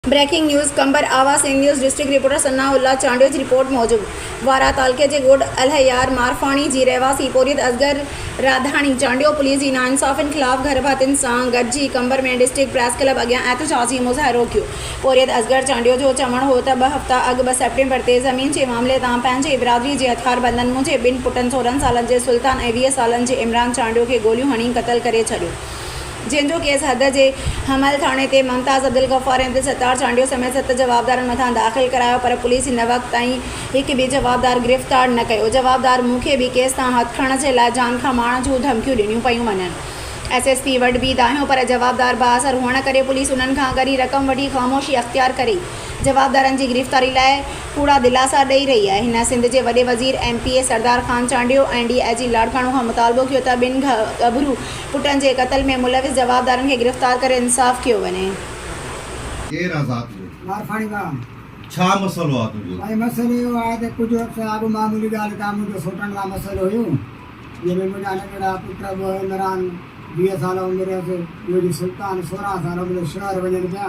Breaking news Qambar Awaz Sindh news district reporter Sana Ullah Chandio جي report موجب وارهه تعلقي جي ڳوٺ الهيار مارفاڻي جي رهواسي پورهيت اصغر راڌاڻي چانڊيو پوليس جي ناانصافين خلاف گهر ڀاتين سان گڏجي قمبر ۾ ڊسٽرڪٽ پريس ڪلب اڳيان احتجاجي مظاهرو ڪيو پورهيت اصغر چانڊيو جو چوڻ هو ته ٻه هفتا اڳ ٻه سيپٽمبر تي زمين جي معاملي تان پنهنجي برادري جي هٿياربندن منهنجي ٻن پٽن سورهن سالن جي سلطان ۽ ويهه سالن جي عمران چانڊيو کي گوليون هڻي قتل ڪري ڇڏيو جنهن جو ڪيس حد جي حمل ٿاڻي تي ممتاز عبدالغفار ۽ عبدالستار چانڊيو سميت ست جوابدارن مٿان داخل ڪرايو پر پوليس هن وقت تائين هڪ به جوابدار گرفتار نه ڪيو جوابدار مون کي به ڪيس تان هٿ کڻڻ جي لاء جان کان مارڻ جون ڌمڪيون ڏنيون پيون وڃن ايس ايس پي وٽ به دانهيو پر جوابدار بااثر هئڻ ڪري پوليس انهن کان ڳري رقم وٺي خاموشي اختيار ڪري جوابدارن جي گرفتاري لاء ڪوڙا دلاسا ڏئي رهي آهي هن سنڌ جي وڏي وزير M P A Sardar Khan Chandio ۽ D I G Larkana کان مطالبو ڪيو ته ٻن ڳڀرو پٽن جي قتل ۾ ملوث جوابدارن کي گرفتار ڪري انصاف ڪيو وڃي. ڪير آ ذات جو. مارکاڻي مان. ڇا مسئلو آ تنهنجو. سائين مسئلو اهو آهي ته ڪجهه عرصي اڳ معمولي ڳالهه تان منهنجو سوٽن مان مسئلو هيو جنهن ۾ منهنجا ننڍڙا پٽ ابو عمران ويهه سال عمر هيس ٻيو جي سلطان سورهن سال عمر شهر وڃن پيا.